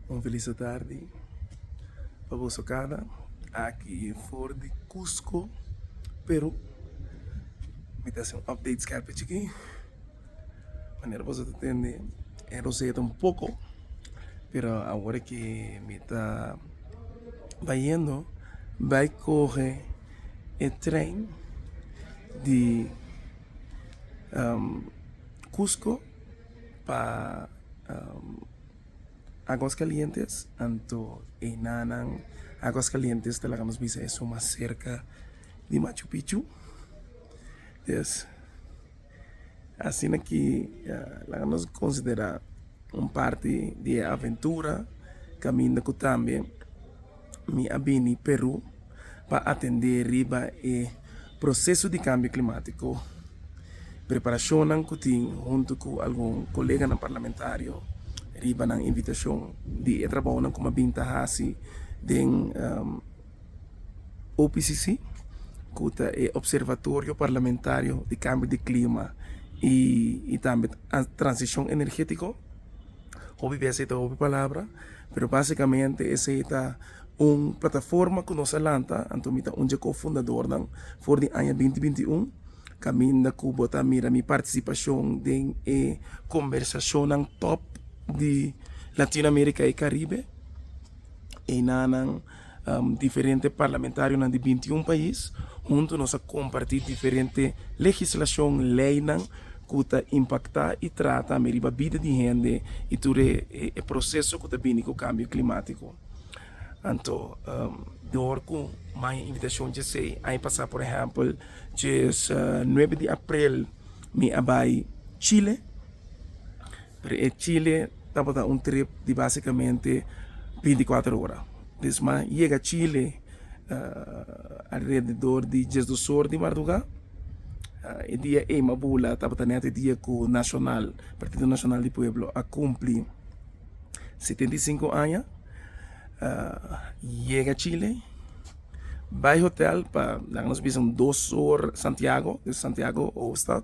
Un felice tardi pa boso cada aki for di Cusco Peru mi ta hasi un update skerpe chiki manera boso ta tende e roseta un poco pero awor ki mi ta bayendo bay coge e tren di Cusco. pa Aguas Calientes anto enanan Aguas Calientes ta laga nos bisa eso mas serka di Machu Picchu entonces asina ki laga nos considera un parti di e aventura caminda cu tambe. Mi a bini Peru pa atendé riba e proseso di kambio klimatiko. Preparashonnan ku tin huntu ku algun koleganan parlamentario riba nan invitashon di e trabounan ku mi a bin ta hasi den OPCC ku ta e Observatorio Parlamentario di Kambio di Klima i tambe Transishon Energetiko. Hopi bes ei ta hopi palabra, pero basikamente esei ta un plataforma ku nos a lanta, anto mi ta un dje kofundadornan for di aña binti binti un. Kaminda ku bo ta mira mi partisipashon den e kombersashonnan tòp di Latinoamerika i Karibe, einanan. Diferente parlamentarionan di binti un pais huntu nos a kompartí diferente legislashon, leinan, ku ta impaktá i trata me riba bida di hende i tur e proseso ku ta bini ku kambio klimátiko. Anto, dor ku maya invitashon dj'esei aña pasá, por ehèmpel, dje nuebe di aprel mi a bai Chile. Pero e Chile tabata un trip di básicamente binticuater ora. Pues m'a yega Chile alrededor di diesdos or di mardugá. E dia ei m'a bula tabata nèt e dia ku Nacional, Partido Nacional di Pueblo, a kumpli setenta i sinku aña. Yega Chile, bai hotèl pa laga nos bisa un dos or Santiago, Santiago hoofdstad.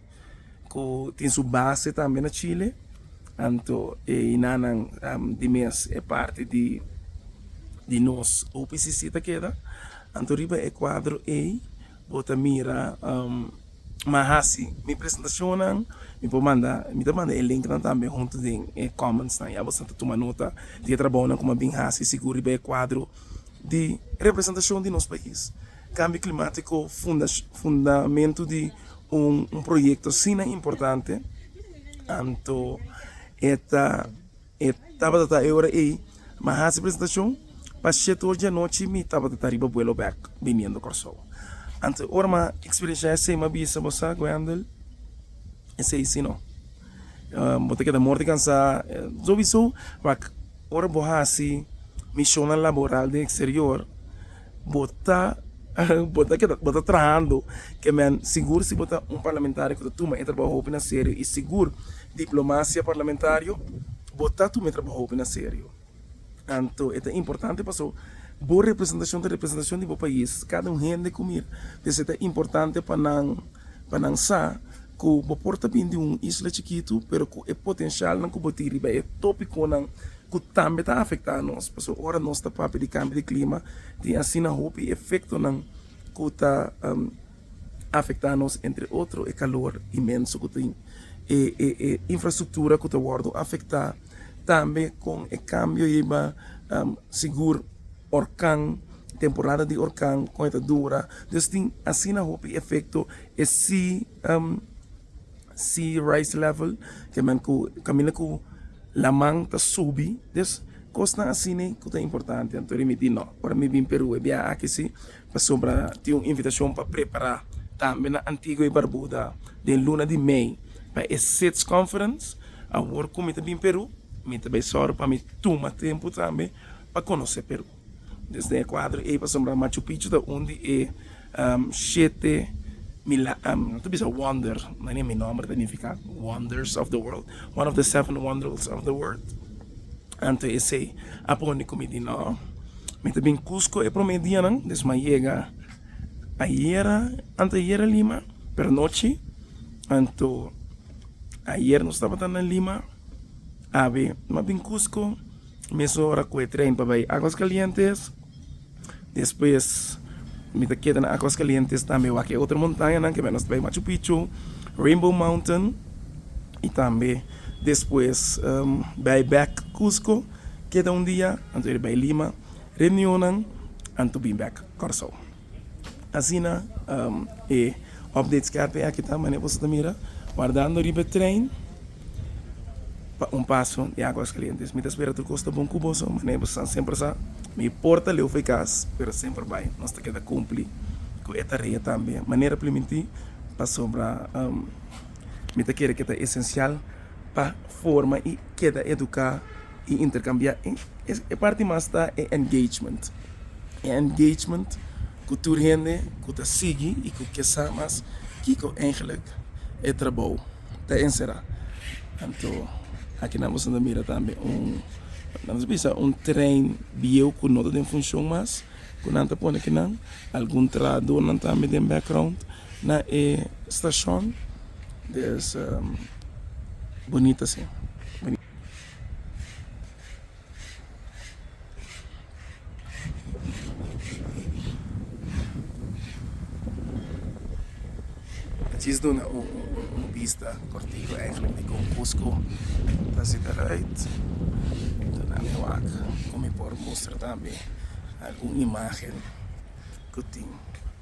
cu tin su base tambe na Chile, anto e hinanan di mes e parti di nos UPCC ta keda, anto riba e cuadro ey bo ta mira ma haci mi presentacionnan, mi por manda, mi ta manda e linknan tambe hunto den e commentsnan, ya boso ta tuma nota di e trabounan cu mi a bin haci, sigur riba e cuadro di representacion di nos pais. Cambio Climático fundamento di un proyecto asina importante anto e ta e tabata ta e ora ey ma haci presentacion pa shete ora dianochi mi tabata ta riba vuelo bek biniendo Corsou anto ora ma experiencia esey ma bisa bo sa Wendel esey si no bo ta keda morti cansa sobiso ora bo haci misionan laboral den exterior Bo ta bo ta keda bo ta trahando ke men sigur si bo ta un parlamentario ku ta tuma e trabou hopi na serio i sigur diplomasia parlamentario bo ta tuma e trabou hopi na serio anto e ta importante paso bo representashon ta representashon di bo pais kada un hende ku mira por eso e ta importante pa nan pa nan sa ku bo por ta bin di un isla chikitu pero ku e potensialnan ku bo tin riba e topikonan ku tambe ta afektá nos, pasobra ora nos ta papia di kambio di klima tin asina hopi efektonan ku ta afektá nos, entre otro e kalor inmenso ku tin, e infrastruktura ku ta wòrdu afektá, tambe kon e kambio yiba sigur orkan, temporada di orkan kon e ta dura, dus tin asina hopi efekto e si. Am see rice level ke men ku kaminda ku laman ta subi des kosnan asina ku ta importante anto ri mi di no ora mi bin Peru e biaha aki si pasobra tin un invitashon pa prepara tambe na Antigua i Barbuda den luna di mei pa e sits conference awor ku mi ta bin Peru mi ta bai sòru pa mi tuma tempu tambe pa konosé Peru. Desden e kuadro ei pasobra Machu Picchu ta un di e shete no ta bisa wonder na ni mi nòmber ta nifiká wonders of the world one of the seven wonders of the world anto esei a por mi komo mi di no mi ta bin Kusko e promé dianan des mi a yega ayera anteayera Lima pero nochi anto ayer nos tabata na Lima awe mi a bin Kusko. Mes ora ku e tren pa bai Aguaskalientes, despues mi ta keda na Aguaskalientes tambe wak e otro montañanan ke menos ta bai Machu Picchu, Rainbow Mountain i tambe despues bai bèk Cusco, keda un dia anto iri bai Lima, reunionnan anto bin bèk Kòrsou. Asina e update skerpe aki ta mane boso ta mira wardando riba e trein pa un paso di aguas kalientes. Mi ta spera tur kos ta bon ku boso mane boso san semper sa mi por ta leu fei kas pero semper bai nos ta keda kumpli ku e tarea tambe manera pliminti pasobra mi ta kere ke ta esensial pa forma i keda eduka y intercambia y e parti mas ta e engagement, e engagement cu tur hende cu ta sigui y cu ke sa mas kico eigenlic e trabou ta encera. Anto aki nan bisa mira tambe un, nan bisa bisa un trein bieu cu no ta den funcion mas cu nan ta pone kinan algun trahadornan tambe den background na e stacion, des bonita si. Djis duna un bista cortico eigenlijk di con Cusco ta zit eruit ta na mi wak cu mi por mustra tambe algun imagen cu tin.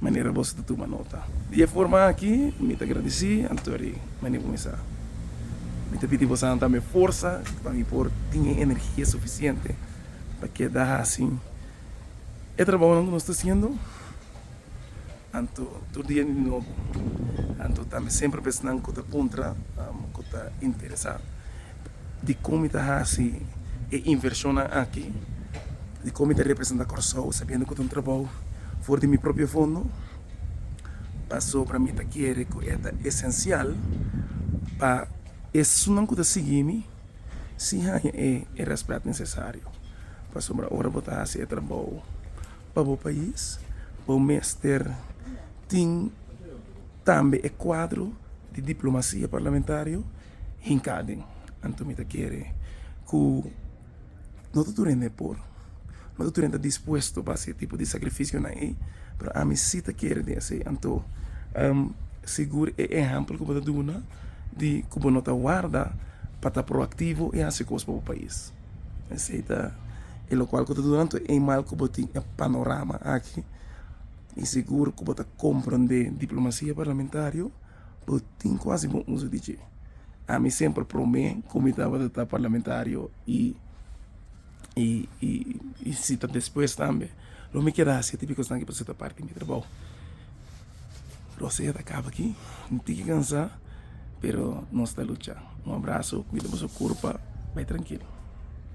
manera boso ta tuma nota. Di e forma aki mi ta gradisí anto di mane ku mi sa. Mi ta pidi bosanan tambe forsa pa mi por tin e energia sufisiente pa keda hasi e trabaonan ku nos ta hasiendo anto tur dia di nobo, anto tambe semper besnan ku ta puntra ku ta interesá. di con mi ta haci e inversionnan aki, di con mi ta representa Corsou sabiendo cu ta un trabou for di mi propio fondo, pasobra mi ta kere cu e ta esencial pa esunnan cu ta sigui mi si haya e respet necesario, pasobra ora bo ta haci e trabou pa bo pais bo mester tin tambe e cuadro di diplomacia parlamentario. Hincaden, anto mi ta kere ku no ta tur hende e por, no ta tur hende ta dispuesto pa hasi e tipo di sakrifisionan ei, pero ami si ta kere di hasi. Anto sigur e ehèmpel ku bo ta duna di ku bo no ta warda pa ta proaktivo i hasi kos pa bo pais, esei ta e lokual ku ta duna anto ei mal ku bo tin e panorama aki i sigur ku bo ta komprondé diplomasia parlamentario. Bo tin kuasi bon uso di dje. Ami semper promé ku mi tabata ta parlamentario i i si ta despues tambe lo mi keda hasi e tipo di kos aki pasobra e ta parti di mi trabou. Rosea ta kaba aki un tiki kansá pero nos ta luchá. Un abraso, kuida boso kurpa, bai trankil.